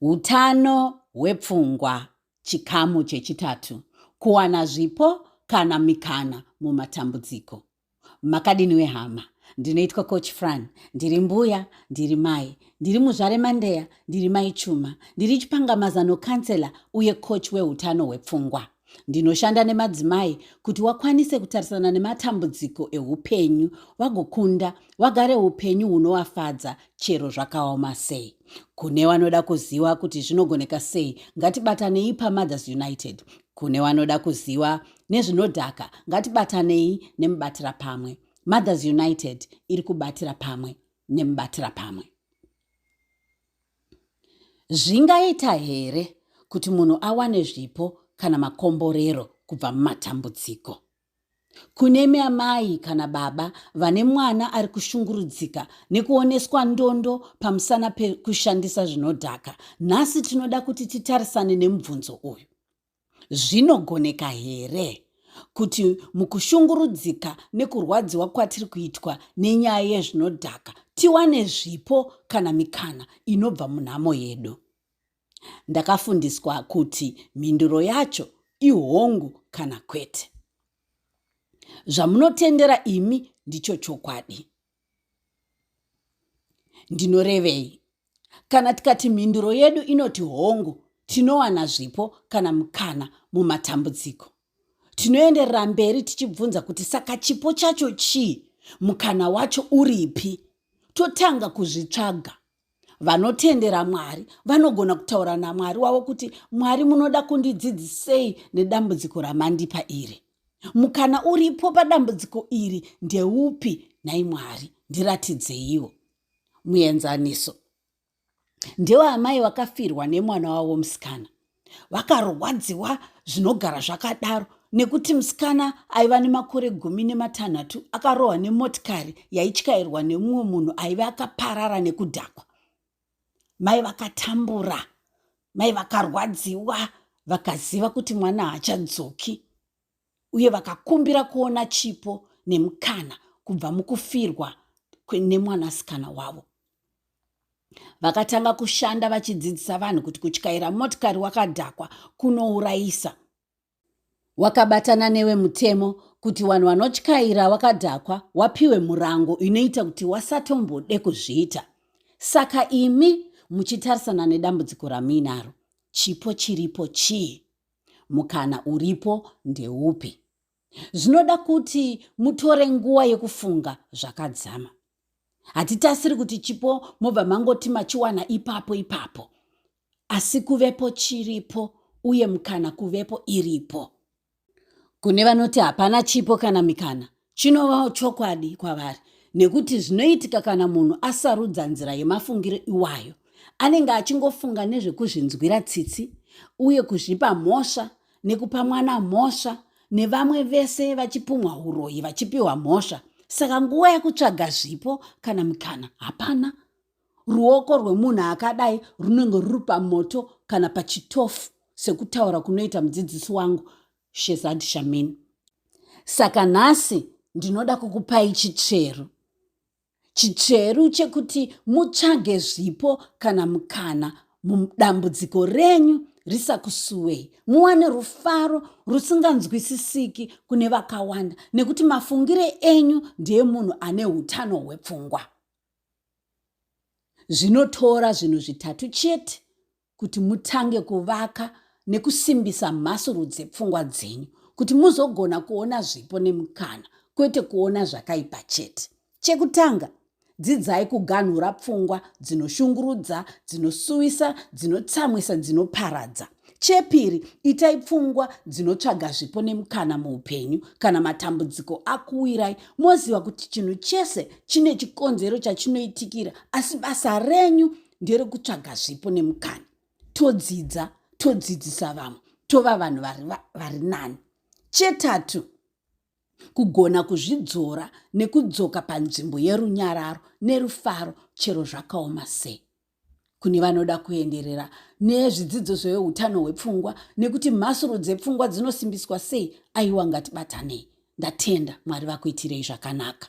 Utano hwepfungwa, chikamu chechitatu, kuwana zvipo kana mikana mumatambudziko. Makadini wehama? Ndinoitwa Coach Fran, ndiri mbuya, ndiri mai, ndiri muzvare Mandeya, ndiri mai Chuma, ndiri chipangamazano counselor uye coach wehutano hwepfungwa. Ndinoshanda nemadzimai kuti wakwanise kutarisana nematambudziko eupenyu, wagokunda, wagare upenyu hunowafadza chero zvakaoma sei. Kune wanoda kuziva kuti zvinogoneka sei, ngatibatanei paMothers United. Kune wanoda kuziva nezvinodhaka, ngatibatanei nemubatira pamwe. Mothers United iri kubatira pamwe nemubatira pamwe. Zvingaita here kuti munhu awane zvipo kana makomborero kubva mumatambudziko? Kunemi amai kana baba vane mwana ari kushungurudzika nekuoneswa ndondo pamusana pekushandisa zvinodhaka, nhasi tinoda kuti titarisane nemubvunzo uyu. Zvinogoneka here kuti mukushungurudzika nekurwadziwa kwatiri kuitwa nenyaya yezvinodhaka tiwane zvipo kana mikana inobva munhamo yedu? Ndakafundiswa kuti mhinduro yacho ihongu kana kwete. Zvamunotendera imi ndicho chokwadi. ndinorevei kana tikati mhinduro yedu inoti hongu tinowana zvipo kana mukana mumatambudziko tinoenderera mberi tichibvunza kuti saka chipo chacho chii mukana wacho uripi totanga kuzvitsvaga vanotendera mwari vanogona kutaura namwari wavo kuti mwari munoda kundidzidzisei nedambudziko ramandipa iri mukana uripo padambudziko iri ndeupi nhai mwari ndiratidzeiwo muenzaniso ndewaamai vakafirwa nemwana wavo musikana vakarwadziwa zvinogara zvakadaro nekuti musikana aiva nemakore gumi nematanhatu akarohwa nemotikari yaityairwa nemumwe munhu aive akaparara nekudhakwa mai vakatambura mai vakarwadziwa vakaziva kuti mwana haachadzoki uye vakakumbira kuona chipo nemukana kubva mukufirwa nemwanasikana wavo vakatanga kushanda vachidzidzisa vanhu kuti kutyaira motikari wakadhakwa kunourayisa wakabatana newe mutemo kuti vanhu vanotyaira wakadhakwa wapiwe murango inoita kuti wasatombode kuzviita saka imi muchitarisana nedambudziko ramuinaro chipo chiripo chii Mukana uripo ndeupi? Zvinoda kuti mutore nguva yekufunga zvakadzama. Hatitasiri kuti chipo mobva mangoti machiwana ipapo ipapo, asi kuvepo chiripo uye mukana kuvepo iripo. Kune vanoti hapana chipo kana mikana, Chinovawo chokwadi kwavari nekuti zvinoitika kana munhu asarudza nzira yemafungiro iwayo anenge achingofunga nezvekuzvinzwira tsitsi uye kuzvipa mhosva nekupa mwana mhosva nevamwe vese vachipumwa uroyi vachipiwa mhosva saka nguva yekutsvaga zvipo kana mukana hapana ruoko rwemunhu akadai runenge ruri pamoto kana pachitofu sekutaura kunoita mudzidzisi wangu shezad shamin saka nhasi ndinoda kukupai chitsveru chitsveru chekuti mutsvage zvipo kana mukana mudambudziko renyu risakusuwei muwane rufaro rusinganzwisisiki kune vakawanda nekuti mafungire enyu ndeemunhu ane utano hwepfungwa zvinotora zvinhu zvitatu chete kuti mutange kuvaka nekusimbisa mhasuru dzepfungwa dzenyu kuti muzogona kuona zvipo nemukana kwete kuona zvakaipa chete chekutanga dzidzai kuganhura pfungwa dzinoshungurudza dzinosuwisa dzinotsamwisa dzinoparadza chepiri itai pfungwa dzinotsvaga zvipo nemukana muupenyu kana matambudziko akuwirai moziva kuti chinhu chese chine chikonzero chachinoitikira asi basa renyu nderekutsvaga zvipo nemukana todzidza todzidzisa vamwe tova vanhu vari nani chetatu kugona kuzvidzora nekudzoka panzvimbo yerunyararo nerufaro chero zvakaoma sei kune vanoda kuenderera nezvidzidzo zveutano hwepfungwa nekuti mhasuro dzepfungwa dzinosimbiswa sei aiwa ngatibatanei ndatenda mwari vakuitirei zvakanaka